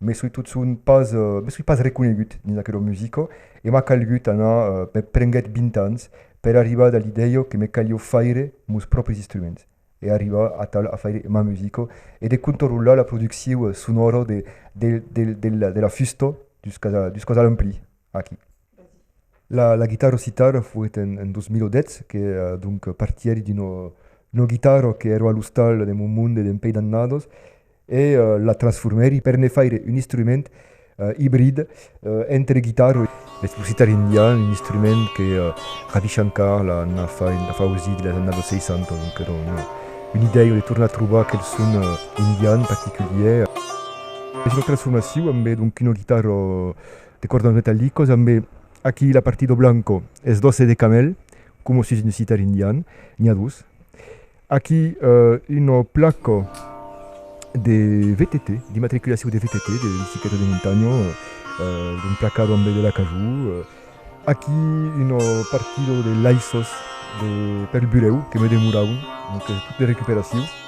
Me soi totson pas, me soi pas reconegut dins aquelo musico e m'a calgut anar, me prenguèt 20 ans per arribar da l'idèio que me calió faire mos pròpris instruments e arribar atal a faire ma musico e de contorrolar la producciu sonòro de la fusto juscas a l'emplir. Aquí. La guitarra citara foguèt en 2010 que donc partièri d'una guitarra qu'èra a l'ostal de mon monde dempuèi d'annadas e la transformèri per ne faire un instrument ibrid entre guitarra e lo citar indian, un instrument que Ravi Shankar la fa ausir dins las annadas 60, donc èra una idèia de tornar trobar aquel son indian particulièr. Es una transformacion ambe donc una guitarra. de cordons metallicos ambe aquí la partido blanco es d'osse de camèl como sus un sitar indian n'i a dos aquí una placa de VTT d'immatriculacion de VTT de bicicleta de montanha un placado ambe de l'acajou aquí una partido de laissos de pel burèu que me demoraun donc tot de recuperacion.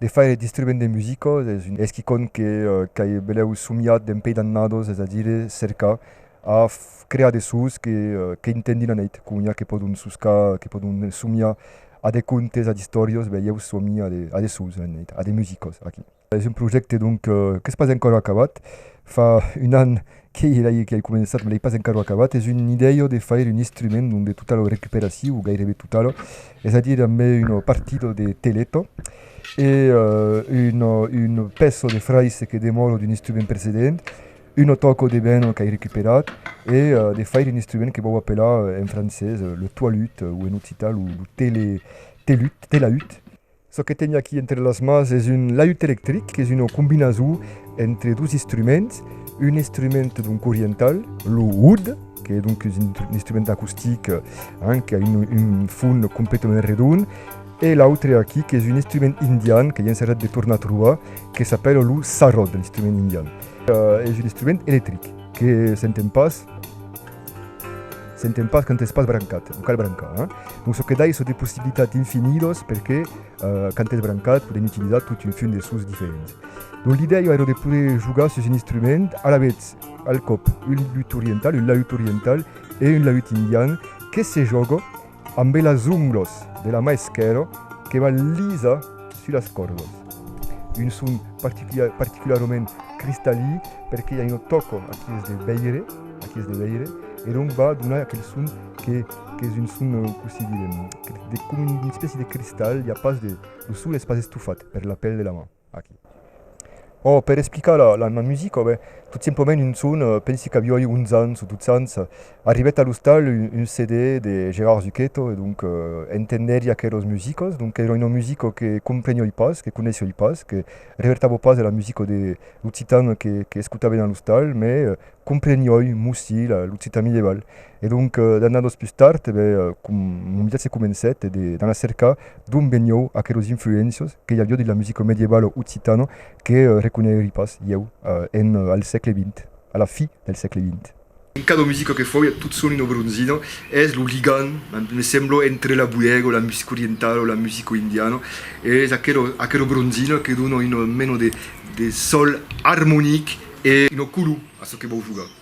De faire d'instrument de musica es un esquicon que qu'ai belèu somiat d'en pei d'annados, es a dire cercar a crear de sons que qu'intendin a neit, coma que pòdon soscar, que pòdon somiar a de contes, a d'istòrias, ben ieu somi a de a de sons a neit, a de musicas aquí. Es un projècte donc qu'es pas encòra acabat, fa un an Qu'ei elai que ai començat, me l'ei pas encara acabat, es un idèio de faire un instrument donde tota lo recuperaciu, o gairebe tota lo, es a dire ambe un partido de teleto e un peço de fraise que demòro d'un instrument precedent, un tòco de ben qu'ai recuperat e de faire un instrument que vau apelar en francés le toilut o en occitan lo tele, telut, telaüt. Çò que teni aquí entre las mans es un laüt electric, qu'es una combinason entre dos instruments, un instrument donc oriental, lo oud, qu'es donc un instrument acustic hein, qu'a un, un fon completament redon, e l'autre aquí qu'es un instrument indian que i ensajat de tornar trobar, que s'apèla lo sarod, l'instrument indian. Es un instrument electric, que s'enten pas. S'enten pas quand es pas brancat, non cal brancar, hein. Donc çò que dai çò de possibilitat infinidos perque quand es brancat podem utilizar tot un fum de sons diferents. Donc l'idèia èra de poder jogar sus un instrument alavetz al còp un lut oriental, un laüt oriental e un laüt indian que se jòga Ambe las unglos de la mà esquèrra que va lisa sus las còrdas. Un son particularament cristalí perque ja no tòco aquí es de veire, aquí es de veire, e donc va donar aquel son que qu'es un son cossí direm, de com un espèci de cristal, i a pas de, lo son es pas estofat per la pèl de la mà. Aquí. Oh, per explicar la, la, ma musica, ben, tot simplement un son, eh, pensi qu'avioi 11 ans o 12 ans, arribèt a l'ostal un, un CD de Gérard Zucchetto e donc eh, entendèri aqueras musicas, donc era una musica que comprenioi pas, que coneissioi pas, que revertava pas de la musica de l'occitan que, que escotava dins l'ostal, mes eh, comprenioi, mussi, la, l'occitan medieval. E donc, d'annadas pus tard, e ben, mon viatge comencèt e de d'anar cercar d'ont venió aqueros influéncias que i avió dins la musica medievalo occitana que reconeiri pas ieu en al sègle vint, a la fi del sègle vint. E cada musica que fau, tot son una bronzina, es lo ligam, me sembla, entre la buèga, la musica orientala, la musica indiana, e es aquera aquera bronzina que dona una mena de de sòl armonic e una color a çò que vau jogar.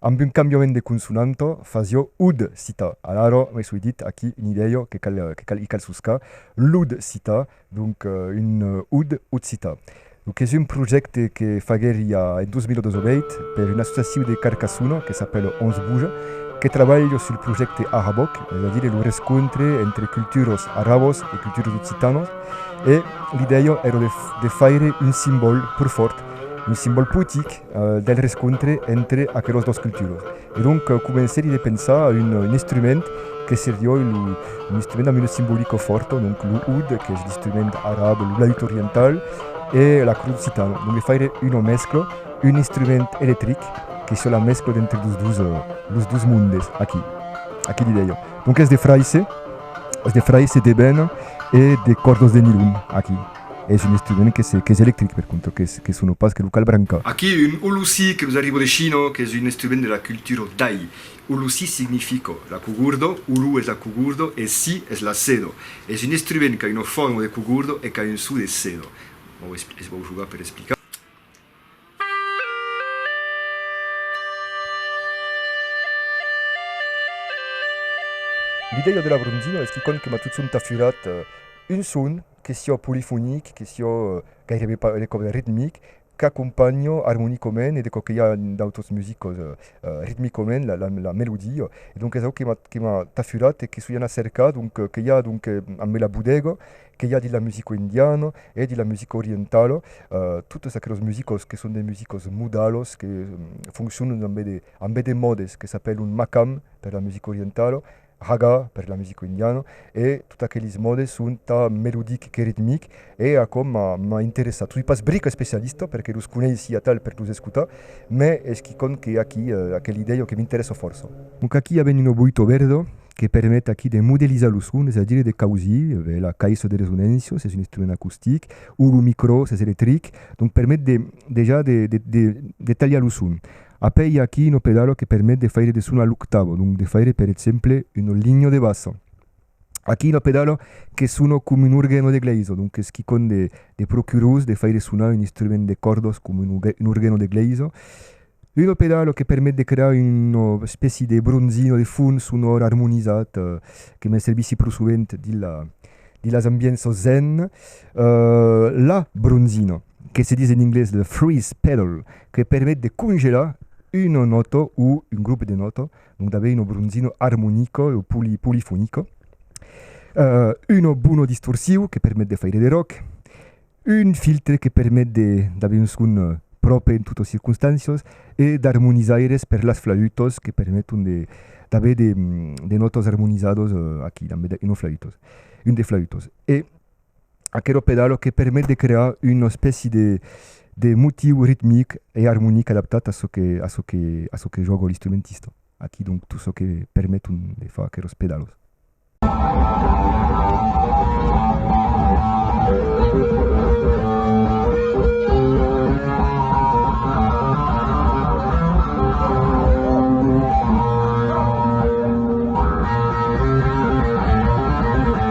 Amb un cambiament de consonanta fasio ud cita, alara me soi dit aquí un idèio que cal que cal i cal soscar, l'ud cita, donc un ud occita. Lo qu'es un projècte que faguèri a en 2018 per un associaciu de Carcassona que s'apèl Onze Bouja que trabalh sul projècte Araboc, es a dire lo rescontre entre culturas arabas e culturas occitanas e l'idèia èra de faire un simbòl pro fòrt, un simbòl potic, del rescontre entre aquelos dos culturas e donc comencèri de pensar a un instrument que serioi un instrument amb una simbolica fòrta donc lo oud qu'es l'instrument arab lo laüt oriental e l'acrud occitana donc de faire una mescla un instrument electric que siá la mescla d'entre los dos los dos mondes aquí aquí l'idèia donc es de fraise es de fraise d'eben e de còrdas de nilon aquí. es un estrident qu'es electric per contra, que sona pas, que lo cal brancar. Aquí un ulusi que nos arriba de China, qu'es un estriment de la cultura Dai. Ulusi significa la cugurdo, ulu es la cugurdo e si es la sedo. Es un estriment qu'a una forma de cugurdo e qu'a un so de sedo. Es vau jogar per explicar. L'idèia de la bronzina es que quand que matutson t'a furat un son, que siò polifonic, que siò gairebe pas de còp ritmic, qu'acompanho armonicament e de quauquei a d'autres musicos ritmicament la melodia e donc es aquò que m'a que m'a tafurat e que soi anat cercar donc que i a donc en bela bodega que i a dins la musica indiana e dins la musica orientala totes aqueles musicos que son de musicos modalos que foncionan dambe de dambe de mòdes que s'apèlan makam per la musica orientala Raga per la musica indiana e tot aqueles modes son tà melodic que ritmic e aquò m'a interessat. Soi pas bric especialista perque los coneissi atal per los escotar, mai es quicòm que aqui aquela idèia que m'interessa fòrça. Donc aqui avèm una boito verda que permet aqui de modelizar los sons, es a dire de causir, avèm la caissa de resonància, s'es un instrument acustic, o lo micrò s'es electric, donc permet de dejà de talhar lo son. Après i a aquí un pedalo que permet de faire de son a l'octavo, donc de faire per exemple un ligno de basso. Aquí un pedalo que sona com un organ o de glaiso, donc es quicòm de de pro curós de faire sonar un instrument de còrdas com un un organ o de glaiso. Un pedalo que permet de crear una espèci de bronzino de fons sonor armonizat que me servissi pro sovent dins la dins las ambienças zen. La bronzina que se ditz en inglés le freeze pedal que permet de congelar una nòta o un grop de nòta, donc d'aver una bronzina armonica o poli, polifonica, uh, una bona distorsiu que permet de faire de rock, un filtre que permet d'aver un son eh, pròpre en totas circonstàncias e d'armonizaires per las flautas que permeton d'aver de, de nòtas armonizadas eh, aquí damb una flauta, un de flautas. E aquero pedalo que permet de crear una espèci de motiu ritmic e armonic adaptat a çò que jòga l'instrumentista. Aquí donc tot çò que permet de far aqueros pedalos.